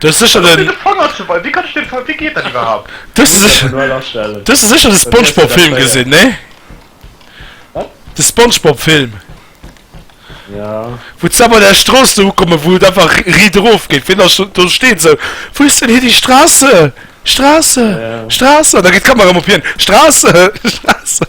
Du hues sécher den. Wéi kann ech den Wéi geet dat iwwerhaapt? Du hues sécher de Spongebob Film gesinn, ne? Wat? De Spongebob Film. Jo. Wou ze bei der Strooss do ukommen, wou et einfach riit erof geet. Ween ass do? Do steet esou, Wo ist denn hier die Straße? Straße? Straße? An da geet d'Kamera ëm op hien, Straße? Straße?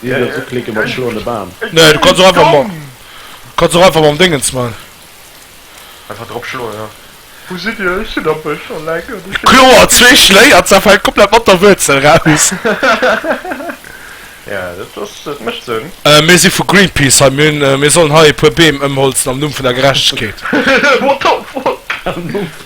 Wien dierf sou klicke mat schloen de Bam? Nee du kanns och einfach mam du kanns och einfach mam Déngens man. Einfach drop schloen jo. Wou sidd dir? Ech sinn am Bësch alleng an ech heeschen Kloer zwee d'Killer. Schléi an zerfällt komplett mat der Wuerzel raus. Ja dat ass dat mécht Sënn. Mir si vu Greenpeace hei. Mir hunn mir sollen hei e puer Beem ëmholzen am Numm vun der Gerechtegkeet. What the fuck? Am Numm vun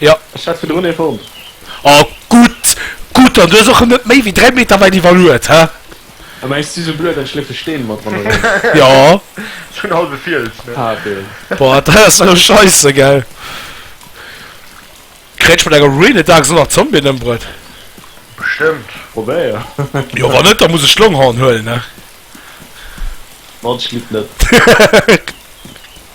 Jo. Ech hat virdrun ee fonnt. Oh gutt, gutt, an du hues och net méi wéi 3 Meter wäit iwwerluet, hä? A mä ech si sou blöd an ech léife Steen mat ran eran. Jo. Sou en halwe Fiels, ne? Hat een. Boah, dat ass elo scheisse, gell? Kréien ech mat enger Ruine daags och nach Zombien ëmbruet? Bestëmmt. Probéier. Jo, wann net, da muss ech d'Longhorn huelen, ne? Mann, ech gleef net.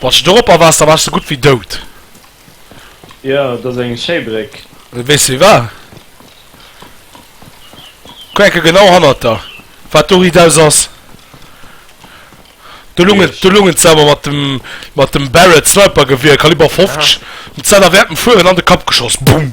Wann s de dorop a waars, da waars de gutt wéi dout. Jo, et ass eng schéi Bréck. Wéi weess de wéi war? Kuck eng Kéier genau hannert der, wat do ridaus ass. Do lung et, do lung et selwer mat dem, mat dem Barrett Snipergewier, Kaliber 50, mat senger während dem Fueren an de Kapp geschoss. Boum!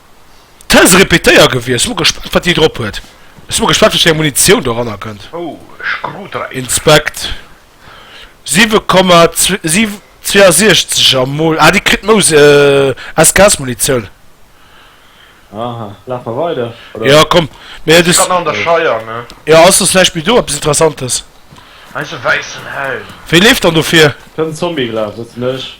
Tä se repetéier gewier. Sin mol gespannt wat déi drop huet. Sin mol gespannt wéi eng Munitioun doranner kënnt. Oh Screwdriver. Inspect 7,62 a mol ah déi kritt mous SKS Munitioun. Aha laf mer weider oder? Jo komm mee du kann an der Scheier ne. Jo ass soss näischt méi do eppes interessantes. Hei ass e wäissen Helm. Wéi leeft dann dofir? Kënnt Zombie gelaf, dat sin ech.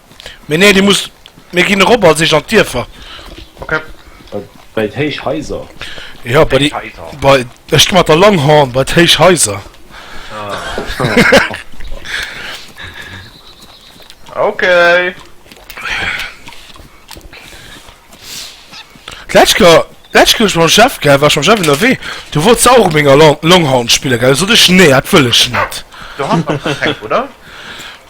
Mee nee, déi muss. Mir ginn erop als eischt an d'Dierfer. Ok. Bei d'héich Haiser? Jo, bei déi. Bei. Ech gi mat der Longhorn bei d'héich Haiser. Ok. D'lescht Joer, d'lescht Joer ech mam Jeff, gell, war ech mam Jeff ënnerwee. Du wollt se och ménger Longhorn spillen, gell? Sot ech, Nee, dat wëll ech net. Du has nach keng, oder?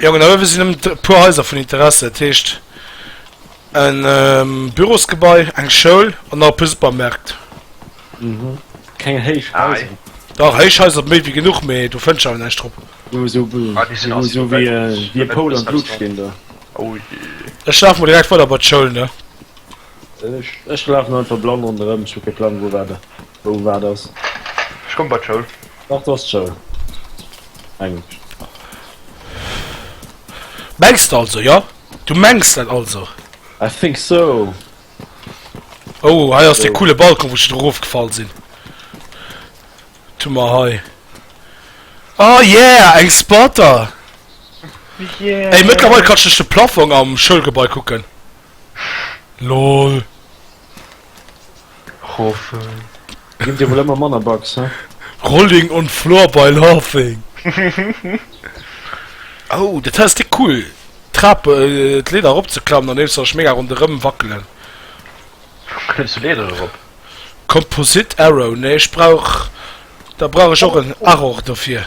Jongen, hei sinn nëmmen e puer Haiser vun Interesse. Dat heescht, e Bürosgebai, eng Schoul an nach e puer Supermärkt. Mhm. Keng héich Haiser. Dach, héich Haiser méi wéi genuch, mee do fënns de awer näischt drop. Jo, esou wéi e Poul am Blut stinn do. Ech lafe mol direkt weider bei d'Schoul, ne? Ech lafen einfach blann ronderem, ech hu kee Plang wou waat wou waat ass. Ech komm bei d'Schoul. Dach do ass d'Schoul, mengen ech. Mengs de also, jo? Du mengs dat also? I think so. Oh, hei ass dee coole Balkon, wou ech dru rofgefall sin. Tu mer hei. Oh yeah, eng Spotter! Ey, mëttlerweil kann ech duerch de Plaffong am Schoulgebai kucken. Lol. Roffel. Gin dir wuel emmer manner Bugs, he? Rolling on floor by laughing. Oh dat ass déck cool, d'Trap, d'Leeder erop ze klammen an nees sech mega ronderëm wackelen. Klëmms du Leeder erop? Composite arrow, nee ech brauch, da brauch ech och en Arrow dofir.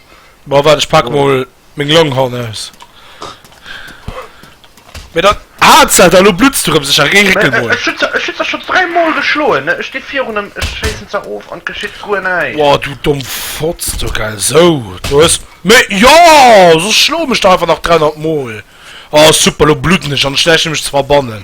Bon, wat, ech pak oh. mol meng Longhorn aus. Mir dat Haarzelt an lo blutz du rëm sech a géi Réckel mol. Ech hunn ze scho dräi Mol geschloen, ne? Ech sti virun em, ech schéissen ze of an et geschitt guer näischt. Boah, du domm Fotz, du gell. Esou, do hues méi. Jo, soss schloe mech der einfach nach 300 Mol. Oh super, lo blutten ech an ech näischt fir mech ze verbannen.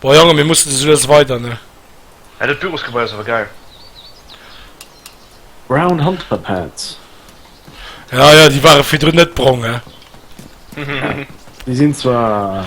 Boah Jongen mir mussen sou lues weider ne. Hey dat Bürosgebei ass awer geil. Brown Hunter Pads. Ja ja déi ware virdrun net brong he. Déi sinn zwar.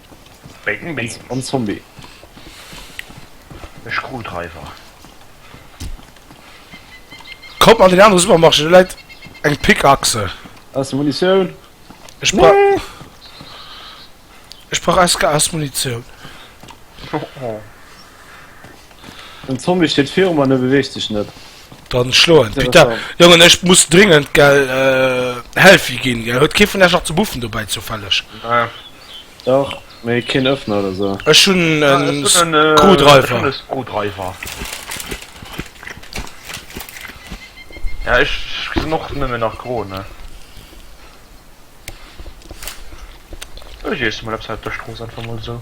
Bacon Beans. En Zombie. E Screwdriver. Kommt an den anderen Supermarché, da läit eng Pickaxe. Aus der Munition. Ech brauch... Nee. Ech brauch SK aus Munition. Oh oh. Den Zombie steht virum an e beweegt sech net. Dann schloen. Putain, Jongen, ech muss dringend, gell, äh, Healthy ginn, gell. Huet kee vun iech nach ze buffen dobäi, zoufälleg? Nee. Dach, mee keen Öffner oder sou. Ech hun en Screwdriver. Ja ech gesin och nemmen nach gro ne. Ech iessen mol eppes aus der Strooss einfach mol sou.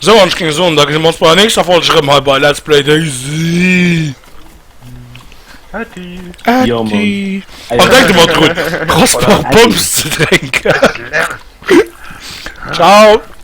Sou, an ech géing soen, da gesinn mer ons bei der nächster Folg erëm hei bei Let's Play Daisy. Atti. Ja, Mann. Atti. Ey, An denk ëmmer drun, kostbar Pommes ze drénken. Ciao.